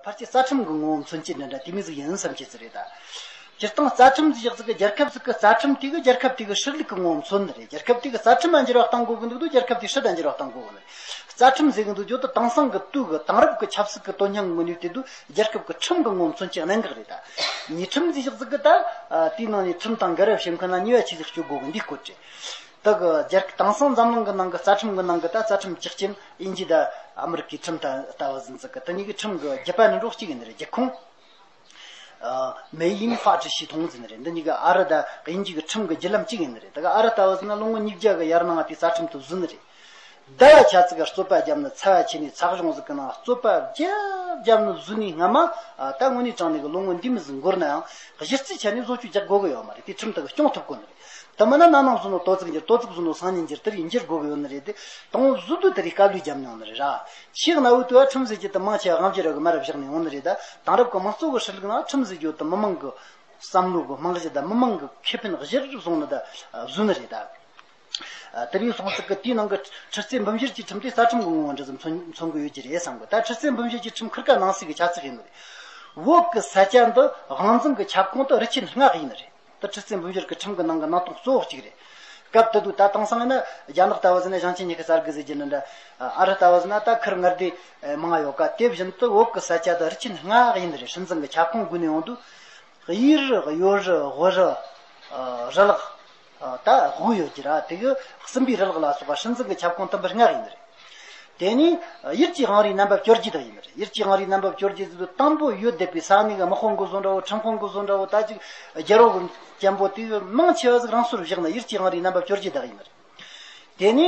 ཕར་ཆེར་རྩ་ཁྲིམས་ཀྱི་ངོ་བོ་མཚོན་བྱེད་འདི་འདྲ་དེ་མིང་གཟུགས་ཡིན་བསམ་བྱེད་ཚུལ་རེད། སྤྱིར་བཏང་རྩ་ཁྲིམས་འཛིན་ཤག་ཅིག་གི་རྒྱལ་ཁབ་ཅིག་གི་རྩ་ཁྲིམས་དེ་གི་རྒྱལ་ཁབ་དེ་གི་ཧྲིལ་ལུགས་ཀྱི་ངོ་བོ་མཚོན་ནི་རེད། རྒྱལ་ཁབ་དེ་གི་རྩ་ཁྲིམས་ལ་འགྱུར་བ་གཏང་དགོས་ཀྱི་འདུག་འདུག་རྒྱལ་ཁབ་དེ་ཧྲིལ་དང་འགྱུར་བ་གཏང་དགོས་ཀྱི་འདུག་རྩ་ཁྲིམས་འཛིན་གྱི་འདུག་འགྱུར་དུ་དེང་སང་གི་དུས་ཀྱི་དེང་རབས་ཀྱི་ཆབ་སྲིད་ཀྱི་དོན་སྙིང་མི་ནུས་དེ་འདུག་རྒྱལ་ཁབ་ཀྱི་ཁྲིམས་ཀྱི་ངོ་བོ་མཚོན་བྱེད་གནད་འགག་རེད། ཉིས་ཁྲིམས་འཛིན་ཤག་ཅིག་གི་ད་ལྟའི་ནང་ནས་ཁྲིམས་དང་འགལ་བའི་བྱེད་མཁན་ལ་ཉེས་བ་ཆེ་ཟིག་གཅོད་དགོས་ཀྱི་འདུག་སྐོར་བྲིས། དག་གི་རྒྱལ་ཁབ་དེང་སང་འཛམ་གླིང་གི་ནང་གི་རྩ་ཁྲིམས་གི་ནང་གི་ད་རྩ་ཁྲིམས་གཅིག་ཅན་དབྱིན་ཇི་དང་ཨ་མི་རི་ཀའི་ཁྲིམས་དང་ལྟ་བ་ཟིན་ཚུལ་གྱི་དེ་གཉིས་ཀྱི་ཁྲིམས་གྱི་རྒྱུད་པ་ནི་འབྲོག་གཅིག་ཡིན་ནི་རེད་རྒྱལ་ཁོངས། མེ་དབྱིན་ཧྥ་ཀྲི་ཞེས་མཐོང་ཟིན་ནི་རེད་འདི་གཉིས་ཀ་ཨ་རི་དང་དབྱིན་ཇི་གྱི་ཁྲིམས་གྱི་རྒྱུད་ལམ་གཅིག་ཡིན་ནི་རེད་ད་ག་ཨ་རི་ལྟ་བ་ཟིན་ན་ལོ་ངོ་ཉིས་བརྒྱ་གི་ཡར་ནང་བ་དེའི་རྩ་ཁྲིམས་དུ་བཟོས་ནི་རེད། ཟླ་བ་ཆ་ཚིགས་ཀ་རྩོད་པ་བརྒྱབ་ན་ཚ་བ་ཆེ་ནས་ཚགས་གཞོང་ཟིག་གི་ནང་རྩོད་པ་བརྒྱབ་བརྒྱབ་ནས་བཟོས་ནས་སྔ་མ་ད་དངོས་གནས་དྲང་ནས་གི་ལོ་ངོ་འདི་མི་ཟིག་འགོར་ནའང་གཞི་རྩའི་ཆ་ནས་བཟོ་བཅོས་རྒྱག་དགོས་གི་ཡོད་མ་རེད་དེ་ཁྲིམས་ལྟར་གི་སྐྱོང་ཐུབ་དགོས་ནི་རེད་དེ་མིན་ན་གནའ་ནང་བཟོ་ནོ་ཏོ་ཙིག་འགྱེར་ཏོ་ཙིག་བཟོ་ནོ་སང་ཉིན་འགྱེར་དེར་ཡིན་འགྱེར་དགོས་གི་ཡོད་ནི་རེད་དེ་དང་བོ་བཟོ་དུས་དེ་རིགས་བཀའ་ལུས་བརྒྱབ་ནས་ཡོང་ནི་རེད་ར་ཆེས་གནའ་བོའི་དུས་ཨ་ཁྲིམས་བཟོས་རྗེས་དང་མང་ཆེ་བ་ཧམ་ཆེ་རབ་གི་མ་རབ་བཞག་ནས་ཡོང་ནི་རེད་དང་དེང་རབ་གི་མང་གཙོ་གི་ཧྲི་ལུགས་ནང་ཁྲིམས་བཟོས་རྗེས་དང་མི་མང་གི་བསམ་བློ་གི་རྨང་གཞི་དང་མི་མང་གི་ཁེ་ཕན་གཞིར་བཟུང་ནི་དང་བཟོས་ནི་རེད་དང། དེབ་ཡིག་སོང་ཟིག་གི་དེའི་ནང་གི་ཁྲི་རྩེ་འབུམ་བཞིར་གྱི་ཁྲིམས་དེ་རྩ་ཁྲིམས་དགོངས་དབང་འདྲི་ཙམ་མཚོན་གི་ཡོད་ཀྱི་རེད་བསམ་དགོས་ད་ཁྲི་རྩེ་འབུམ་བཞི་གྱི་ཁྲིམས་ཁུར་ཁ་ནང་སྲིད་ཀྱི་ཆབ་སྲིད་ཡིན་ནི་རེད་འོག་གི་ས་ཆ་འདི་དབང་འཛིན་གྱི་ཁྱབ་ཁོངས་དུ་རི་ཆེན་སྔགས་ཡིན་ནི་རེད་ད་ཁྲི་རྩེ་འབུམ་བཞིར་གྱི་ཁྲིམས་གྱི་ནང་གི་སྣང་སྟོང་གཙོ་བོ་གཅིག་རེད་སྐབས་དེ་དུས་ད་དེང་སང་ཡིན་ན་རྒྱ་ནག་ལྟ་བུ་ཟིན་ན་ཞིང་ཆེན་ཉི་ཤུ་རྩ་དགུ་ཟེར་གྱི་ནི་འདྲ་ཨ་རི་ལྟ་བུ་ཟིན་ན་ད་ཁུར་ངར་དེ་མང་ཡོད་ཀ་དེ་བཞིན་དུ་འོག་གི་ས་ཆ་དུ་རི་ཆེན་སྔགས་ཡིན་ནི་རེད་ཁྲིམས་འཛིན་གྱི་ཁྱབ་ཁོངས་དགུ་ནས་འོང་དུས་དབྱི་རི་ཡོ་རི་ཝི་རི་རི་ལག་ད་དགུ་ཡོད་ཀྱི་ར་དེ་གི་སྲིན་པོའི་རི་ལག་ལ་སོགས་པ་སྲིད་འཛིན་གྱི་ཁྱབ་ཁོངས་དུམ་བུ་ལྔ་རེ་ཡིན་པ་རེད། དེ་ནི་དབྱིར་སྐྱི་ཧང་རིའི་རྣམ་པ་བསྐྱོར་རྗེས་དག་ཡིན་པ་རེད། དབྱིར་སྐྱི་ཧང་རིའི་རྣམ་པ་བསྐྱོར་རྗེས་སུ་དང་པོ་ཡུལ་འདེབས་པའི་ས་གནས་ཀྱི་དམག་ཁོངས་ཀུན་བཟང་འདྲ་བོ་ཁྲིམས་ཁོངས་ཀུན་བཟང་འདྲ་བོ་དག་ཅིག་རྒྱལ་རོགས་ཀྱི་གཅེན་པོ་དེ་གི་མང་ཆེ་བ་ཟིག་རང་སོར་བཞག་ནས་དབྱིར་སྐྱི་ཧང་རིའི་རྣམ་པ་བསྐྱོར་རྗེས་དག་ཡིན་པ་རེད། དེ་ནི།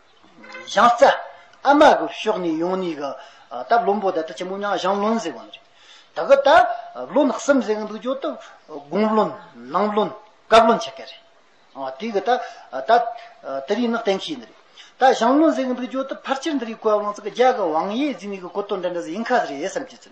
བཞང་རྩ། ཨ་མ་གི་ཕྱོགས་ནས་ཡོང་ནས་གི། ད་བློན་པོ་དེ་ད་ཆེན་མོ་མྱང་བཞང་བློན་ཟེར་བ་རེད། ད་གི་ད་བློན་གསུམ་ཟེར་གི་འདུག་གྱོད་ཏུ། དགུང་བློན། ནང་བློན། བཀའ་བློན་ཆེ་གེ་རེད། དེ་གི་ད། ད། དེ་རིང་ནི་གཏན་འཁེལ་ཡིན་རེད། ད་བཞང་བློན་ཟེར་གི་འདུག་གྱོད་ཏུ་ཕར་ཆེར་འདི་རིགས་བཀའ་བློན་ཙི་གི་རྒྱ་གི་བང་ཡེ་ཟིན་ནས་གི་གོ་ཏོ་འདྲ་འདྲ་ཟིན་ཁ་ཟི་རེད་བསམ་གྱི།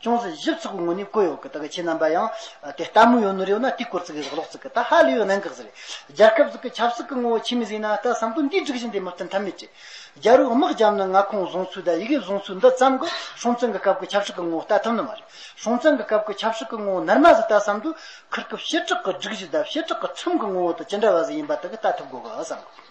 ཅུང་ཟད་ཞིབ་ཚགས་པོ་ངོ་ནས་བཀོད་ཡོང་གི་དག་ཁྱེད་རྣམ་པ་ཡང་དེ་ལྟ་མོ་ཡོང་ནི་རེད་ན་དེ་སྐོར་ཙི་གི་རག་ལོག་ཙི་གི་ད་ཧ་ལས་ཡོད་ནང་གི་ཙི་རེད་རྒྱལ་ཁབ་ཙི་གི་ཆབ་སྲིད་གི་ངོ་བོ་ཁྱེད་མི་ཟིན་ན་ད་བསམ་དོན་འདིའི་སྒྲིག་གཞི་འདི་མི་བསྟན་ཐབས་མེད་རེད་རྒྱལ་རོགས་དམག་རྒྱབ་ན་མངའ་ཁོངས་བཟུང་ཚུལ་དང་ཡི་གེ་བཟུང་ཚུལ་འདི་ཙམ་གི་སྲོང་བཙན་གི་སྐབས་གི་ཆབ་སྲིད་གི་ངོ་བོ་བལྟ་ཐུབ་ནི་མ་རེད་སྲོང་བཙན་གི་སྐབས་གི་ཆབ་སྲིད་གི་ངོ་བོ་ནར་མ་ཟིན་ད་བསམ་དུས་ཁུར་སྐབས་བྱེ་བྲག་གི་སྒྲིག་གཞི་དང་བྱེ་བྲག་གི་ཁྲིམས་གི་ངོ་བོ་དང་ཅི་འདྲ་བ་ཟིག་ཡིན་པ་དག་གི་བལྟ་ཐུབ་དགོས་གི་བསམ་གི།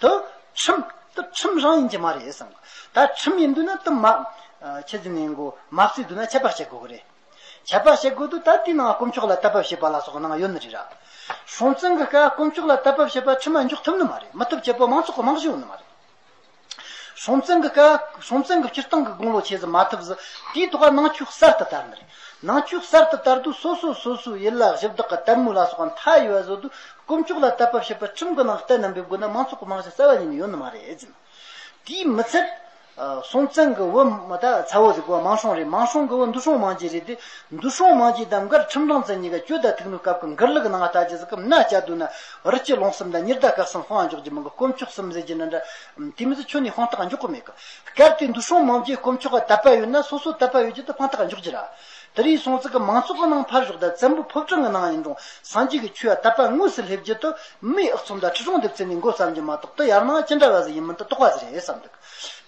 དུ། ཁྲིམས། དུ་ཁྲིམས་རང་ཡིན་གྱི་མ་རེད་བསམ། ད་ཁྲིམས་ཡིན་འདོད་ན་དུ་མ། ཁྱེད་ཚོས་ངན་གོ། མ་བརྩིས་འདོད་ན་ཁྱད་པར་བྱེད་དགོས་གི་རེད། ཁྱད་པར་བྱེད་དགོས་འདོད་ད་དེའི་ནང་དཀོན་མཆོག་ལ་ལྟ་བབ་བྱེད་པ་ལ་སོགས་ནང་ཡོད་ནི་རེད་ར། སྲོང་བཙན་གི་སྐབས་དཀོན་མཆོག་ལ་ལྟ་བབ་བྱེད་པ་ཁྲིམས་མ་འཇོག་ཐུབ་ནི་མ་རེད་མི་ཐུབ་བྱེད་པོ་མང་ཚོགས་ཀྱི་རྨང་གཞི་ཡོད་ནི་མ་རེད། སྲོང་བཙན་གི་སྐབས་སྲོང་བཙན་གི་སྤྱིར་བཏང་གི་དགུང་ལོ་ཆེ་ཟི་མ་ཐུབ་ཟི་དེའི་ཐོག་ནང་ཆོས་གསར་དུ་དར་ནི་རེད། ནང་བཅུད་གསར་དུ་དར་དུས་སོ་སོས་སོ་སོའི་ཡུལ་ལ་གཞི་བདག་གི་དད་མོས་ལ་སོགས་པ་མཐའ་ཡས་པ་བཟོ་དུས་དཀོན་མཆོག་ལ་དད་པ་བྱེད་པའི་ཁྲིམས་གི་ནང་གཏན་རྣམ་པའི་སྒོ་ནས་མང་ཚོགས་ཀྱི་རྨང་གཞི་གསར་བ་ཉིད་ནས་ཡོད་ནི་མ་རེད། དེས་མི་ཚད། སྲོང་བཙན་གྱི་བུ་མོ་དང་ཚ་བོ་ཟིག་གོ་མང་སྲོང་རེད་མང་སྲོང་གི་བུ་འདུ་སྲོང་མང་རྒྱས་རེད་དེ། འདུ་སྲོང་མང་རྒྱས་དང་མགར་ཁྲིམས་སྦྲང་རྩི་གཉིས་ཀ་གྱོད་ཟླ་ཐིག་ནོར་སྐབས་ཀྱི་མགར་ལུག་ནང་ལྟ་རྒྱུ་ཟིག་གི་མནའ་བཅའ་སྡོད་ན་རི་སྐྱི་ལོང་གསུམ་དང་གཉེར་ཟླ་བཀག་གསུམ་དཔང་འཇོག་རྒྱུ་མི་འགོ་དཀོན་མཆོག་གསུམ་ཟེར་རྒྱུ་ནི་འདྲ་དེ་མིན་དུ་ཁྱོད་ནི་དཔང་རྟགས་འཇོག་གི་མེད་གི། སྐབས་དེའི་འདུ་སྲོང་མང་བརྒྱའི་དཀོན་མཆོག་ག་དད་པ་ཡོད་ན་སོ་སོ་དད་པ་ཡོད་རྒྱུ་དེ་དཔང་རྟགས་འཇོག་རྒྱུ་ར། དེ་རིང་སྲོང་བཙན་གྱི་མང་ཚོགས་གི་ནང་ཕར་ཞོག་དད་བཙན་པོ་ཕུབ་ཁྲང་གི་ནང་ཡིན་རུང་སངས་རྒྱས་ཀྱི་ཆོས་ཡ་དད་པ་དངོས་སུ་སླེབས་རྒྱུ་དུ་མིའི་ཨག་ཚོམ་དང་ཁྲི་སྲོང་ལྡེབ་ཚེ་ནས་མགོ་བརྩམས་རྒྱུ་མ་གཏོགས་དུ་ཡར་ནང་ཅི་འདྲ་བ་ཟིག་ཡིན་མིན་དུ་རྟོགས་པ་ཟིག་རེད་བསམ་འདུག་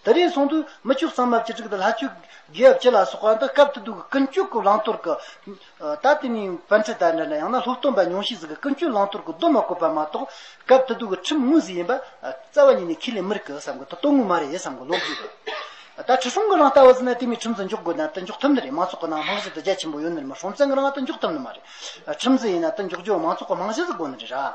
དེ་རིང་སོང་དུས་མི་བཅུ་གསང་མ་བཅུ་དྲུག་དང་ལྷ་བཅུ་དགེ་འབྱེད་ལ་སོགས་པ་འདི་སྐབས་དུ་སྡུག་གི་ཀུན་སྤྱོད་ཀྱི་བླང་དོར་གྱི། ད་དེ་ནས་བན་ཁྲི་དར་འདྲ་འདྲ་ཡང་ན་ལྷུག་སྟོན་པ་ཉུང་ཤས་ཟིག་གི་ཀུན་སྤྱོད་བླང་དོར་གྱི་སྡོམ་མ་བཀོད་པ་མ་གཏོགས་སྐབས་དེ་དུས་ཀྱི་ཁྲིམས་དངོས་ཟིག་ཡིན་པ་རྩ་བ་ཉིད་ནས་ཁས་ལེན་མི་རིགས་ཀི་བསམ་གི་ད་གཏོང་དངོས་མ་རེད་བསམ་གི་ལོག་གི་ཡོད་ད་ཁྲི་སྲོང་གི་རང་ལྟ་བ་ཟིག་ན་དེ་མིན་ཁྲིམས་ཟིག་འཇོག་དགོས་ན་ད་འཇོག་ཐུབ་ནི་རེད་མང་ཚོགས་ཀྱི་ནང་རྨང་གཞི་དུ་རྒྱ་ཆེན་པོ་ཡོད་ནི་རེད་མ་སྲོང་བཙན་གི་རང་ང་ད་འཇོག་ཐུབ་ནི་མ་རེད་ཁྲིམས་ཟིག་ཡིན་ན་ད་འཇོག་རྒྱུ་བ་མང་ཚོགས་ཀྱི་རྨང་གཞི་ཟིག་དགོས་ནི་རེད་ར།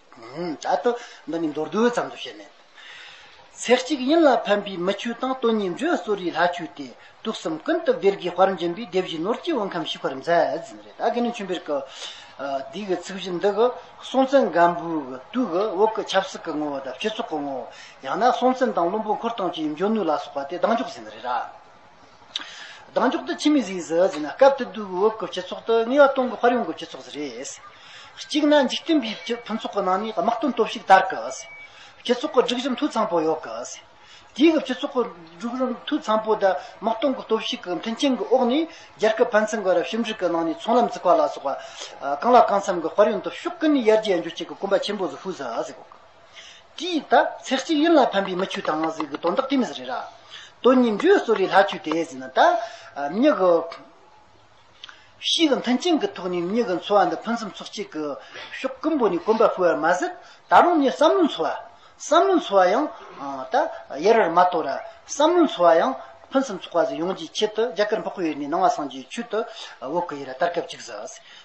བྱ་སྟོད། འདི་ནི་མདོར་བསྡུས་ཙམ་དུ་བཤད་མེད། ཚེ་གཅིག་ཡིན་ལ་ཕན་པའི་མི་ཆོས་དང་དོན་གཉིས་འབྲེལ་གསོ་རིའི་ལྷ་ཆོས་ཏེ། དུག་གསུམ་ཀུན་ཏུ་སྦིར་གྱི་བར་འབྱིན་པའི་སྡེ་བཞི་ནོར་གྱི་དབུ་ཁམས་ཞི་བར་མཛད་ཟིན་རེད། དགེ་འདུན་ཆོས་འབིར་གྱི་སྡེ་གི་ཚིག་བཞི་འདི་གི་སྲོང་བཙན་སྒམ་པོའི་གི་དུས་ཀྱི་དབུ་གི་ཆབ་སྲིད་ཀྱི་ངོ་བོ་དང་སྤྱི་ཚོགས་ཀྱི་ངོ་བོ། ཡང་ན་སྲོང་བཙན་དང་བློན་པོ་འཁོར་སྟོང་བཅས་འབྱོན་ནུས་ལ་སོགས་པ་དེ་གདངས་འཇོག་ཟིན་རེད། གདངས་མགྱོགས་དུ་ཕྱི་མིག་གཟིགས་ཟེར་བ་ན་སྐབས་དེ་དུས་འོག་གི་སྤྱི་ཚོགས་དུ་ངེས་པར་སྟོང་གི་ཕར་ཡོང་གི་སྤྱི་ཚོགས་རེད། གཅིག་ན་འཇིག་རྟེན་པའི་ཕུན་ཚོགས་ཀྱི་ནང་ནས་དམག་དོན་སྟོབས་ཤུགས་དར་གི། སྤྱི་ཚོགས་ཀྱི་སྒྲིག་གཞི་འཐུས་ཚང་པོ་ཡོད་གི། དེའི་སྐབས་སྤྱི་ཚོགས་ཀྱི་སྒྲིག་གཞི་འཐུས་ཚང་པོ་དང་དམག་དོན་གྱི་སྟོབས་ཤུགས་ཀྱི་མཐུན་རྐྱེན་གྱི་འོག་ནས་རྒྱལ་ཁབ་ཕན་ཚུན་བར་ཞིབ་འཇུག་གི་ནང་ནས་ཚོང་ལམ་བཙུགས་པ་ལ་སོགས་པ། གང་ལ་གང་འཚམ་གྱི་དཔར་ཡོན་དུ་ཕྱོགས་ཀུན་ནས་ཡར་རྒྱས་འགྱུར་བྱེད་ཀྱི་གོམ་པ་ཆེན་པོ་ཟུག་ཧུལ་ཟེར་བ་ཟིག། དྲི་ཡིས་དག་ཚེགས་གཅིག་ཡུན་ལ་ཕན་པའི་མི་ཁྱུ་དང་ནགས་གཟིག་གི་དོན་དག་དེ་མི་ཟེར་རེད་ར། དོན་གཉིས་འབྲུའི་གསོ་རིག་ལྷ་ཁྱུ་དེ་ཟེར་ན་ད། མྱི་གི། གཤིས་ཀྱི་མཐུན་རྐྱེན་གྱི་ཐོག་ནས་མྱི་གི་འཚོ་བ་འདི་ཕུན་སུམ་ཚོགས་སྐྱེས་ཀྱི། ཕྱོགས་ཀུན་པོ་ནས་གོམ་པ་སྤོས་བར་མ་ཟད་ད་རུང་མྱི་བསམ་བློའི་འཚོ་བ། བསམ་བློའི་འཚོ་བ་ཡང། ད། ཡལ་བར་མ་གཏོགས་ར། བསམ་བློའི་འཚོ་བ་ཡང། ཕུན་སུམ་ཚོགས་པ་ཟིག་ཡོང་རྒྱུའི་ཆེད་དུ་རྒྱ་གར་འཕགས་ཡུལ་ནས་ནང་བ་སངས་རྒྱས་ཁྱུ་དུ་འོག་གི་ཡི་ར་ལྟར་སྐབས་གཅིག་ཟིག།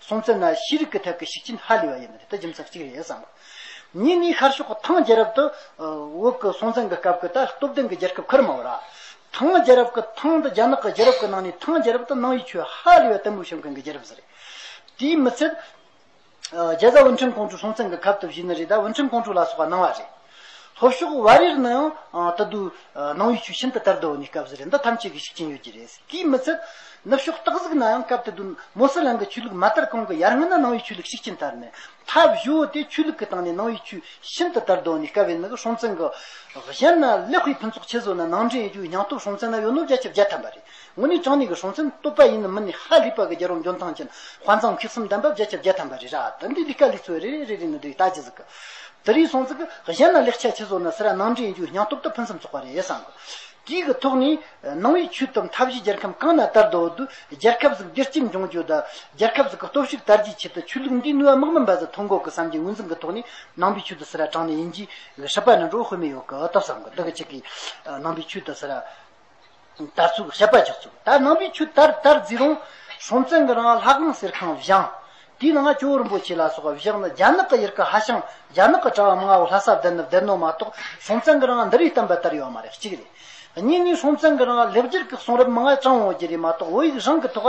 སོང་ཚེ་ན་ཤེས་རིག་གི་ཐད་ཀྱི་ཤུགས་རྐྱེན་ཧ་ལས་པ་ཡིན་ནི་དེ་རྒྱུ་མཚན་གཅིག་རེད་བསམ་པ། གཉིས་ནི་ཤར་ཕྱོགས་ཐང་རྒྱལ་རབས་དུ་འོག་གི་སྲོང་བཙན་གྱི་སྐབས་ཀྱི་ད་སྟོབས་ལྡན་གྱི་རྒྱལ་ཁབ་ཁུར་མ་བོ་ར། ཐང་རྒྱལ་རབས་ཀྱི་ཐང་འདི་རྒྱ་ནག་གི་རྒྱལ་རབས་ཀྱི་ནང་ནས་ཐང་རྒྱལ་རབས་དུ་སྣང་བའི་ཆོས་ཧ་ལས་པ་དུ་མུའུ་ཞང་ཀང་གི་རྒྱལ་རབས་སུ་རེད། དེའི་མི་ཚད། རྒྱལ་བཟའ་ཝུན་ཁྲེང་ཀོང་ཀྲུག་སྲོང་བཙན་གྱི་སྐབས་དུ་བཞུགས་ནི་རེད་ད་ཝུན་ཁྲེང་ཀོང་ཀྲུག་ལ་སོགས་པ་སྣང་བ་རེད། ལྷོ་ཕྱོགས་བར་ཡུལ་ནང་ཡང་ད་དུ་ནང་ཡུལ་ཆུ་ཤིན་ཏུ་དར་དོ་བོ་ནི་སྐབས་སུ་རེད་མདོ་ཐམས་ཅད་ཀྱི་ཤུགས་ཅན་ཡོད་ཀྱི་རེད་དེའི་མི་ཚད། ནུབ་ཕྱོགས་སྟག་གཟིག་ན་ཡང་སྐབས་དེ་དུས་མོ་སི་ལང་གི་ཆོས་ལུགས་མ་དར་གོང་གི་ཡར་སྔོན་ན་ནང་ཡུལ་ཆོས་ལུགས་ཤུགས་ཅན་དར་ནས་ཐབས་བཞི་བོ་དེ་ཆོས་ལུགས་ཀྱི་སྟེང་ནས་ནང་ཡུལ་ཆུ་ཤིན་ཏུ་དར་དོ་བོ་ནི་སྐབས་ཡན་ནི་གི་ཧྲོང་ཙན་གི། གཞན་ན་ལེགས་སྤེལ་ཕུན་ཚོགས་ཆེ་བཟོ་ན་ནང་འདྲེན་ཡོད་རྒྱུ་ཡང་སྟོབས་ཧྲོང་ཙན་ན་ཡོད་ནོ་བརྒྱ་ཆ་བརྒྱ་ཐམ་པ་རེད་དངོས་གནས་ཅང་ནེ་གི་ཧྲོང་ཆེན་བསྟོད་པ་ཡིན་ནམ་མིན་ནི་ཧ་ལི་པ་གི་རྒྱལ་རོང་འཇོན་ཐང་ཅན་དཔའ་མཛངས་འཁྱིལ་གསུམ་ལྡན་པ་བརྒྱ་ཆ་བརྒྱ་ཐམ་པ་རེད་ར་ད་འདི་ལི་ཀ་ལི་ཚོས་རེ་རེ་རེ་རེ་ནི་འདི་ཡི་ད་ཇི་ཟིག་གི། དི་རིགས་སོང་ཚིག་གི་གཞན་ན་ལེགས་ཆ་ཆེ་བཟོ་ན་སི་ར་ནང་འདྲེན་རྒྱུའི་སྙང་སྟོབས་དང་ཕུན་སུམ་ཚོགས་པ་རེད་བསམ་གི། དེའི་གི་ཐོག་ནས་ནང་བའི་ཆོས་དང་མཐའ་བཞི་རྒྱལ་ཁམས་གང་ན་དར་དོ་དུ་རྒྱལ་ཁབ་ཟིག་བདེ་སྐྱིད་འབྱུང་རྒྱུ་དུ་རྒྱལ་ཁབ་ཟིག་གི་སྟོབས་ཤུགས་དར་རྒྱས་ཆེད་དུ་ཆོས་ལུགས་འདིའི་ནུས་བ་དམག་མི་འབའ་ཟིག་ཐོ་འགོད་གི་བསམ་གྱི་ངོས་འཛིན་གི་ཐོག་ནས་ནང་པའི་ཆོས་དུ་སི་ར་ཅང་ནེ་ཡིན་གྱི་གི་ཧྲི་པ་ནི་འགྲོ་དབུས་མི་ཡོད་གི་སྟབས་བསམ་གི་འདི་གི་ཆེད་གི་ནང་པའི་ཆོས་དུ་སི་ར། དར་ཚུགས་བཤད་པ་རྒྱག་ཚུགས་དར་ནང་པའི་ཆུ་དར་དར་རྫི་རོང། སྲོང་བཙན་གྱི་རང་ལྷ་ཁང་གསེར་ཁང་བཞེངས། དེའི་ནང་ཇོ་བོ་རིན་པོ་ཆེ་ལ་སོགས་བཞེངས་ནས་རྒྱ་ནག་གི་ཡུལ་གྱི་ཧ་ཤང་རྒྱ་ནག་གི་གྲྭ་བ་མང་བོ་ལྷ་ས་བསྡད་ནས་བསྡད་ནོ་མ་གཏོགས་སྲོང་བཙན་གྱི་རང་འདི་རུ་བསྟན་པ་དར་ཡོད་མ་རེད་གཅིག་རེད། གཉིས་ནས་སྲོང་བཙན་གྱི་རང་ལེགས་སྦྱར་གྱི་གསུང་རབ་མང་བོ་དྲངས་འོང་རྒྱུ་རེད་མ་གཏོགས་བོད་ཡིག་རང་གི་ཐོག་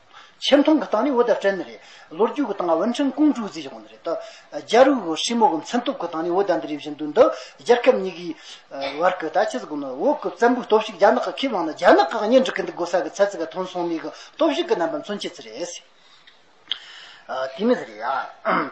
ཆེ་མཐོང་གི་སྟངས་ནི་བོད་ཟླ་བྲལ་ནི་རེད། ལོ་རྒྱུས་ཀྱི་སྟངས་ཝུན་ཁྲིན་ཀུང་ཀྲུའུ་ཙི་ཞེས་གོ་ནི་རེད། རྒྱ་རིགས་བོད་ཧྲིལ་མོ་གི་མཚན་སྟོབས་ཀྱི་སྟངས་ནི་བོད་ཟླ་འདི་རེད་བཞིན་དུ་འདི་རྒྱལ་ཁབ་གཉིས་ཀྱི་བར་གྱི་ད་ཆའི་གཟུགས་ནི་བོད་ཀྱི་བཙན་པོའི་སྟོབས་ཤུགས་རྒྱ་ནག་གི་ཁས་བླངས་ན་རྒྱ་ནག་གིས་གཉེན་སྒྲིག་གི་འདུག་གོ་ས་གི་ཚད་ཚིག་གི་ཐོན་སོང་མིག་གི་སྟོབས་ཤུགས་ཀྱི་རྣམ་པ་མཚོན་བྱེད་ཚུལ་རེད། དེ་མི་སྲིད་རེད།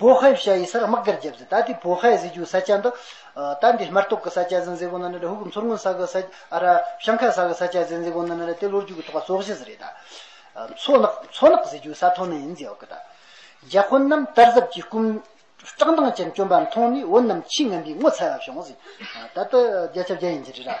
བོད་ཧའི་བྱ་ཡི་སར་དམག་སྒར་བརྒྱབ་ཚེ་ད་ལྟའི་བོད་ཧའི་གཟི་བྱུག་ས་ཆ་འདི། ད་འདི་སྨར་ཏོག་གི་ས་ཆ་ཟིན་ཟེར་གོང་ན་ནི་ར་ཧུ་གི་མཚོར་སྔོན་ས་གི་ས། ཨ་ར། ཤང་ཁ་ས་གི་ས་ཆ་ཟིན་ཟེར་གོང་ན་ནི་ར་དེ་ལོ་རྒྱུས་ཀྱི་ཐོག་སོག་གཞི་ཟི་རེད་ད། མཚོ་ནག་མཚོ་ནག་གཟི་བྱུག་ས་ཐོག་ནི་ཡིན་ཟེར་བ་གི་ད། རྒྱ་ཁོ་རྣམས་དར་ཟབ་ཀྱི་སྐུམ། བཀྲག་མདངས་ཅན་བཅོམ་པ་མཐོང་ནས་བོད་རྣམས་ཆེས་ངན་པའི་ངོ་ཚ་བ་བྱུང་ཟེར། ད་ད་རྒྱ་ཆབ་རྒྱ་ཡིན་གྱི་རེད་ད།